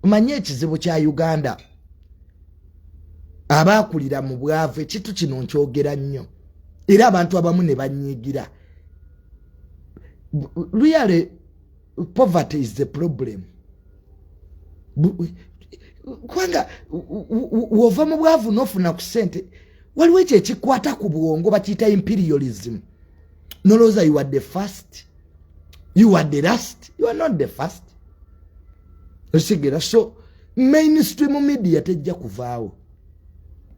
manye ekizibu kya uganda abaakulira mu bwavu ekintu kino nkyogera nnyo era abantu abamu ne banyiigira really poverty is the problem kubanga wova mu bwavu n'ofuna ku ssente waliwo ekyo ekikwata ku bwongo bakiyita imperialism nolowooza you are the first you are the last you are not the first osigera so mainstream media tejja kuvaawo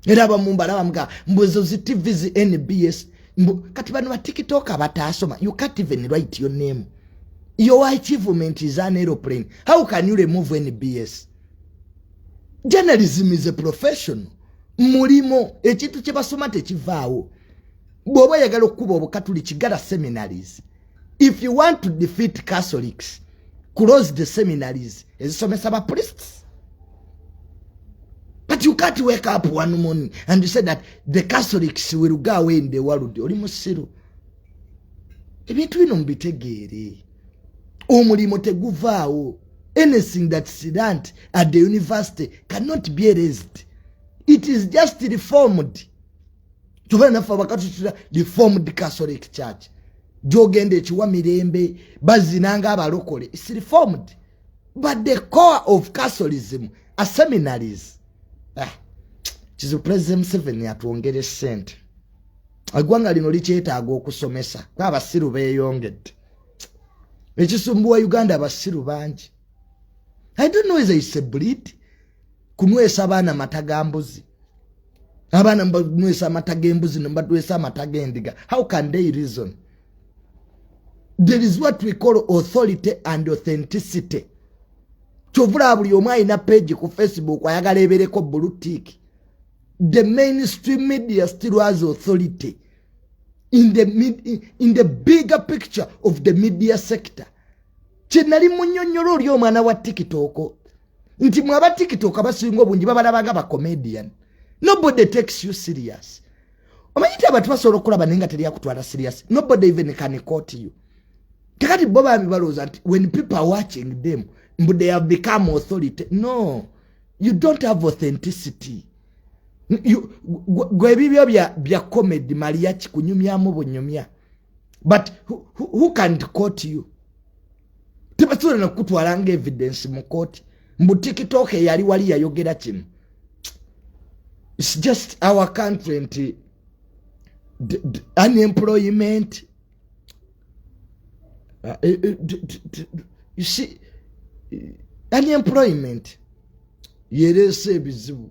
era abamumbalabamga mbuzo zi tv zi nbs mbu kati bano batiktok abataasoma you can't even write your name your achievement is an aeroplane how can you remove nbs journalism is a professional mulimo ekintu kyebasoma tekivaawo bw'oba oyagala okukuba obukatuliki gala seminaries if you want to defeat catholics close the seminaries ezisomesa ba priests but you can't wake up one morning and you say that the catholics will go away in the world oli musiru ebintu bino mubitegeere omulimu teguvaawo anything that sidant at the university cannot be erased it is just reformed kyova naffe abakatutira reformed catholic church gyogenda ekiwa mirembe bazina nga abalokole is reformed but the core of catholicism a seminaries ah, kizu president museveni atwongere sente eggwanga lino likyetaaga okusomesa nga abasiru beyongedde ekisumbuwa uganda abasiru bangi i don't know is a sebuliti kunwesa baana mata ga mbuzi abaana mubanwesa amata g'embuzi nemubanwesa amata g'endiga how can they reason there is what we call authority and authenticity kyovulaba buli omu alina page ku facebook ayagala ebereko bulutik the mainstream media still has authority in the, in the bigger picture of the media sector kyenali munyonyola oli omwana wa tikitoko nti mwe aba tiktok abasinga obungi babalabaga ba comedian nobody takes you serious omanyi nti abantu basobola okulaba naye nga teri akutwala serious nobody even can court you kakati bo bambi balowooza nti when people are watching them mbu they have become authority no you don't have authenticity gwebibyo bya comedy maliya kikunyumyamu bunyumya but who, who, who can court you tebasobola nakukutwala nga evidence mu kooti mbu tiktok eyali wali yayogera kino its just our country nti unemployment uh, eh, eh, you see unemployment yereese ebizibu